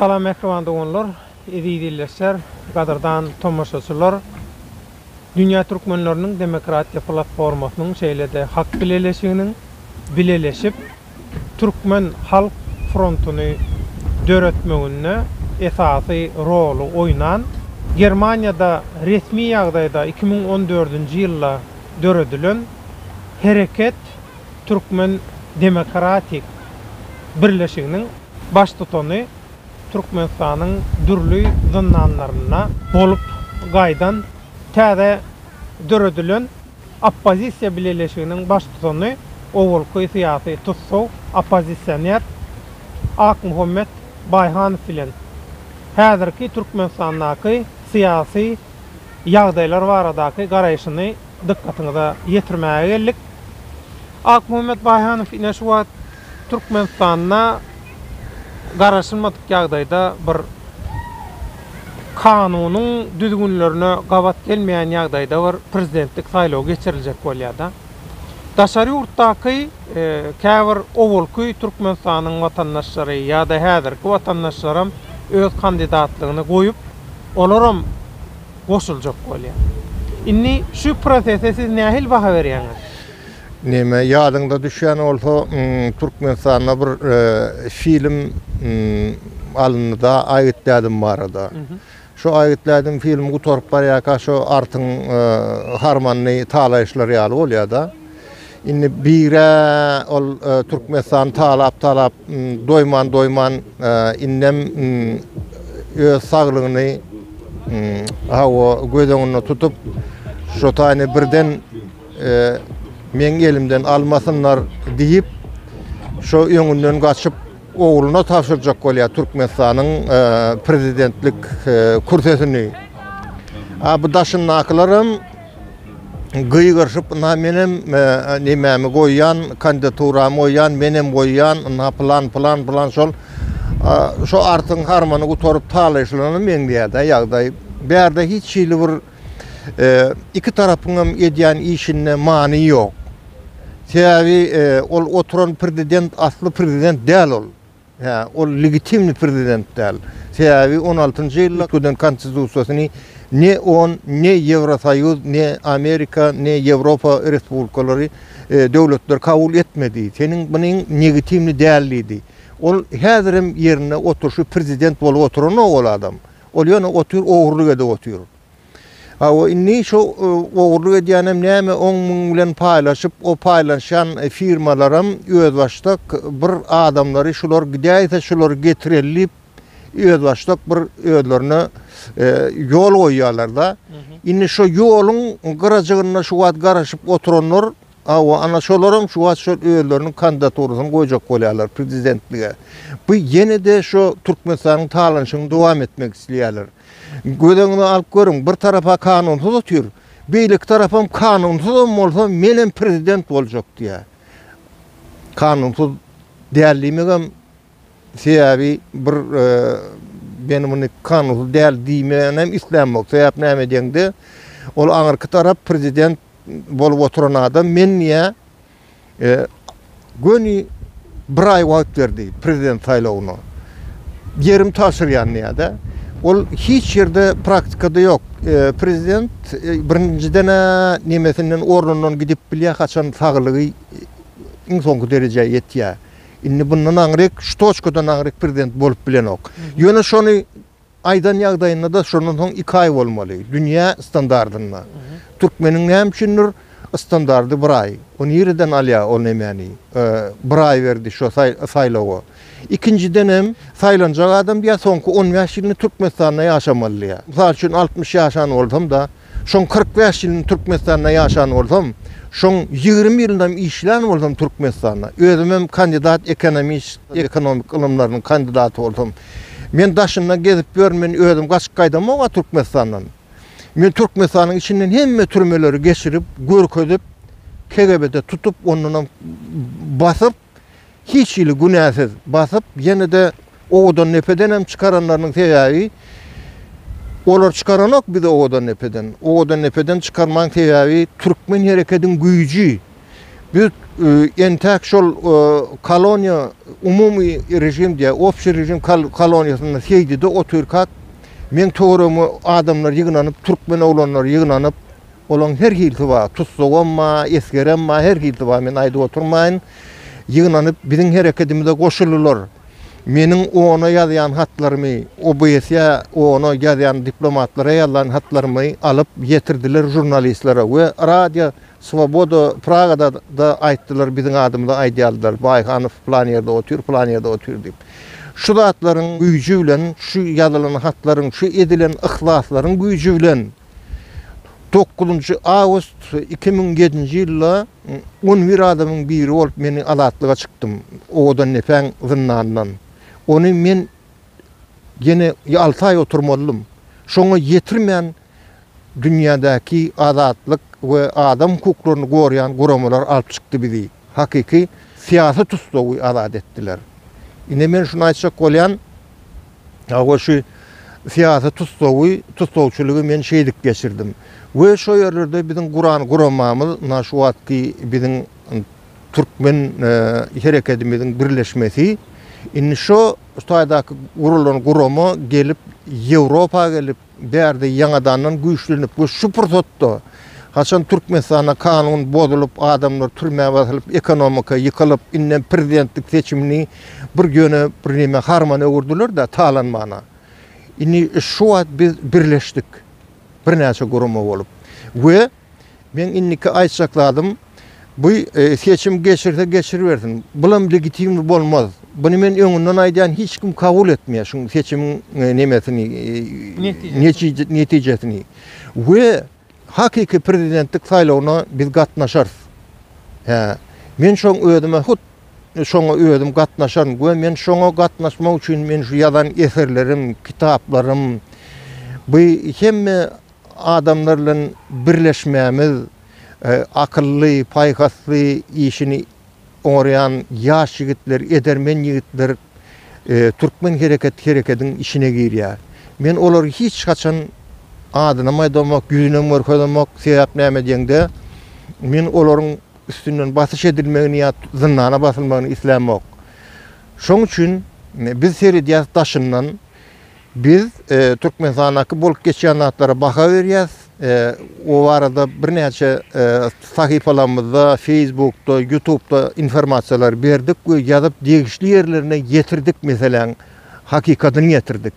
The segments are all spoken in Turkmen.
Salam mähriban doganlar, eziz ildeşler, gadyrdan tomaşaçylar! Dünýä Türkmenleriniň demokratiýa platformasynyň şeýle-de Hak bileleşiginiň bileleşip Türkmen halk frontuny döretmeginde esasy roly oýnan, Germaniýada resmi ýagdaýda iki müň on dördünji ýylda döredilen Hereket Türkmen demokratik birleşiginiň, Baştutany Türkmenistanyň dürli zyndanlarynda bolup gaýdan täze döredilen oppozisiýa bileleşiginiň baştutany, owalky syýasy tussaw, oppozisioner Akmuhammet Baýhanow bilen häzirki Türkmenistandaky syýasy ýagdaýlar baradaky garaýşyny dykgatyňyza ýetirmäge geldik. Akmuhammet Baýhanow ine şu wagt Türkmenistanda garaşylmadyk ýagdaýda bir kanunyň düzgünlerine gabat gelmeýän ýagdaýda bir prezidentlik saýlawy geçiriljek bolýada. Daşary ýurtdaky käbir owalky Türkmenistanyň watandaşlary ýa-da häzirki watandaşlaram öz kandidatlygyny goýup, olaram goşuljak bolýar. Indi şu prosese siz nähili baha berýäňiz? Neme ýadyňda düşýän bolsa Türkmenistanda bir film alyndyda Aýgyt dädim barada. Şo Aýgyt dädim filmi gutaryp barýarka şo artyň harmanyny talaýyşlar ýaly bolýada. Indi bire ol Türkmenistan talap talap doýman doýman indem öz saglygyny hawa göz öňünde tutup şo taýny birden Meň elimden almasynlar diýip, şo öňünden gaçyp, ogluna tabşyrjak bolýar Türkmenistanyň prezidentlik kürsesini. A bu daşyndakylaram gygyryşyp, ynha menem nemämi goýýan, kandidaturamy goýýan, menem goýýan, ynha pylan, pylan, pylan şol. Şo artyň harmany gutaryp talaýyşlana meňzeýär-dä ýagdaý. Bärde hiç hili bir. Iki tarapyňam edýän işinde many ýok. Sebäbi ol oturan prezident asly prezident däl ol. Hä, ol legitimni prezident däl. Sebäbi on altynjy ýylda giden konstitusiýasyny ne on, ne Ýewrosoýuz, ne Amerika, ne Ýewropa respublikalary, döwletleri kabul etmedi. Seniň munyň negitimni däl diýdi. Ol häzirem ýerinde oturşy prezident bolup oturanok ol adam. Ol ýöne otyr, ogurlyk edip otyr. Hawa, indi şo ogurlyk edýänem näme, oň-muň bilen paýlaşyp, o paýlaşýan firmalaram özbaşdak bir adamlary şular gidäýse, şulary getireli diýip, özbaşdak bir özlerine ýol goýýarlar-da. Indi şo ýoluň gyrajygynda şu wagt garaşyp oturanlar Hawa, ana şolaram şu wagt şol özleriniň kandidaturasyny goýjak bolýarlar prezidentlige. Bu ýene-de şu Türkmenistanyň talanyşyny dowam etmek isleýärler. Gözeňize alyp görüň, bir tarapa kanunsyz otyr, beýleki tarapam kanunsyzam bolsa menem prezident boljak diýýär. Kanunsyz däl diýmegem Sebäbi bir men muny kanunsuz däl diýmänem islänmok. Sebäp näme diýeňde, ol aňyrky tarap prezident bolup oturan adam men niýe göni bir aý wagt berdi prezident saýlawyna. Ýerim tabşyrýan diýýär-de. Ol hiç ýerde praktikada ýok. Prezident birinjiden-ä nemesinden ornundan gidip bilýär, haçan saglygy iň soňky derejä ýetýär. Indi bundan aňryk, şu toçkadan aňryk prezident bolup bilenok. Ýöne şony aýdan ýagdaýynda-da şondan soň iki aý bolmaly, dünýä standardynda. Türkmeniň näme üçindir standardy bir aý. O nireden alýar o nemäni? Bir aý berdi şo saýlawa. Ikinjiden hem, saýlanjak adam ýa soňky on bäş ýylyny Türkmenistanda ýaşamalydyr. Mysal üçin, altmyş ýaşan bolsam-da, Şoň kyrk bäş ýylyny Türkmenistanda ýaşan bolsam, şoň ýigrimi ýylynam işlän bolsam Türkmenistanda, özümem kandidat ekonomist, ekonomik ylymlarynyň kandidaty bolsam, men daşynda gezip ýörün, men özüm gaçyp gaýdamok-a Türkmenistandan. Men Türkmenistanyň içinden hemme türmeleri geçirip, görkezip, KGB-de tutup, ondanam basyp, hiç hili günäsiz basyp, ýene-de owadan depeden hem çykaranlarynyň sebäbi, olar çykaranok bizi owadan depeden. Owadan depeden çykarmaň sebäbi türkmen herekediň güýji. Biz entäk şol koloniýa, umumy režim diýýär, obşi režim koloniýasynda Seýdide otyrkak, meň töweregime adamlar ýygnanyp, türkmen oglanlary ýygnanyp, Olaň her hilsi bar, tussagam bar, esgerem bar, her hilsi bar, men aýdyp oturmaýyn. Ýygnanyp biziň herekedimize goşuldylar. Meniň OON-a ýazýan hatlarymy, OBSE-ýa, OON-a ýazýan diplomatlara ýazan hatlarymy alyp ýetirdiler žurnalistlere we Radio Swoboda Pragada-da aýtdylar, biziň adymyza aýdýardylar, Baýhanow plan ýerde otyr, plan ýerde otyr diýip. Şu zatlaryň güýji bilen, şu ýazylan hatlaryň, şu edilen yhlaslaryň güýji bilen, Dokuzynjy awgust iki müň ýedinji ýylda on bir adamyň biri bolup men azatlyga çykdym Owadandepäň zyndanyndan. Ony men ýene alty aý oturmazlym. Şoňa ýetirmän dünýädäki azatlyk we adam hukuklaryny gorýan guramalar alyp çykdy bizi. Hakyky syýasy tussagy azat etdiler. Ine men şuny aýtjak bolýan, hawa şu syýasy tussagy, tussagçylygy men şeýdip geçirdim. We şo ýerlerde biziň guran guramamyz na şu wagtky biziň türkmen herekedimiziň birleşmesi indi şo taýdaky gurulan gurama gelip Ýewropa gelip, Bärde ýaňadandan güýçlenip we şu pursatda, haçan Türkmenistanda kanun bozulyp, adamlar türmä basylyp, ekonomika ýykylyp, indem prezidentlik seçimini bir ýöne birneme harmana öwürdiler-de, talanmana. Indi şu wagt biz birleşdik, birnäçe gurama bolup we Meň indiki aýtjak zadym, bu seçim geçirse geçiribersin, bulam legitimli bolmaz. Buny men öňünden aýdýan, hiç kim kabul etmeýär şuň seçimiň nemesini, netijesini. We hakyky prezidentlik saýlawyna biz gatnaşarys. Hä, men şoň özüme hut şoňa özüm gatnaşaryn we men şoňa gatnaşmak üçin men şu ýazan eserlerim, kitaplarym, bu hemme Adamlar bilen birleşmämiz, akylly, paýhasly, işini oňarýan ýaş ýigitler, edermen ýigitler Türkmen hereket herekediň içine girýär. Men olary hiç haçan adynam aýdamok, ýüzünem görkezemok, sebäp näme diýeňde, men olaryň üstünden basyş edilmegini ýa zyndana basylmagyny islämok. Şoň üçin biz seredýäs daşyndan. Biz Türkmenistandaky bolup geçýän zatlara baha berýäs. O barada birnäçe sahypalarymyzda, Feýsbukda, Ýutubda informasiýalary berdik we ýazyp degişli ýerlerine ýetirdik meseläň hakykatyny ýetirdik.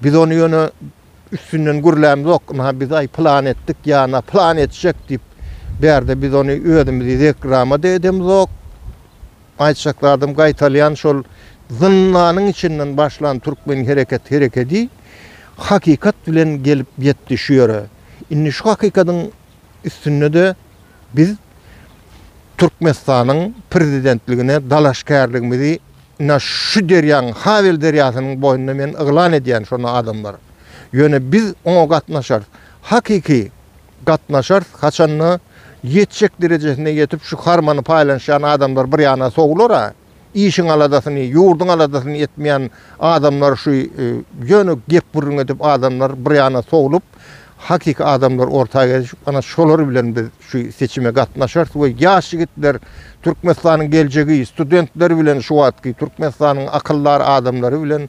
Biz ony ýöne üstünden gürlämzok, ynha biz aý plan etdik ýa-da plan etjek diýip bärde biz ony özümiz zekramada edemzok. Aýtjak zadym gaýtalýan şol zyndanyň içinden başlan türkmen hereket herekedi hakykat bilen gelip ýetdi şu ýere. Indi şu hakykadyň üstündede biz Türkmenistanyň prezidentligine dalaşgärligimizi ina şu derýaň Hawel derýasynyň boýunda men yglan edýän şonda adamlar. Ýöne biz oňa gatnaşarys. Hakyky. gatnaşarys, haçanda ýetjek derejesine ýetip şu harmany paýlanşýan adamlar bir ýana sowular-a, işiň aladasyny, ýurduň aladasyny etmeýän adamlar şu ýöne gep gürrüň edip adamlar bir ýana sowlup hakyky adamlar orta gelşip ana şolar bilen biz şu seçime gatnaşarys we ýaş ýigitler Türkmenistanyň geljegi studentler bilen şu wagtky Türkmenistanyň akyldar adamlary bilen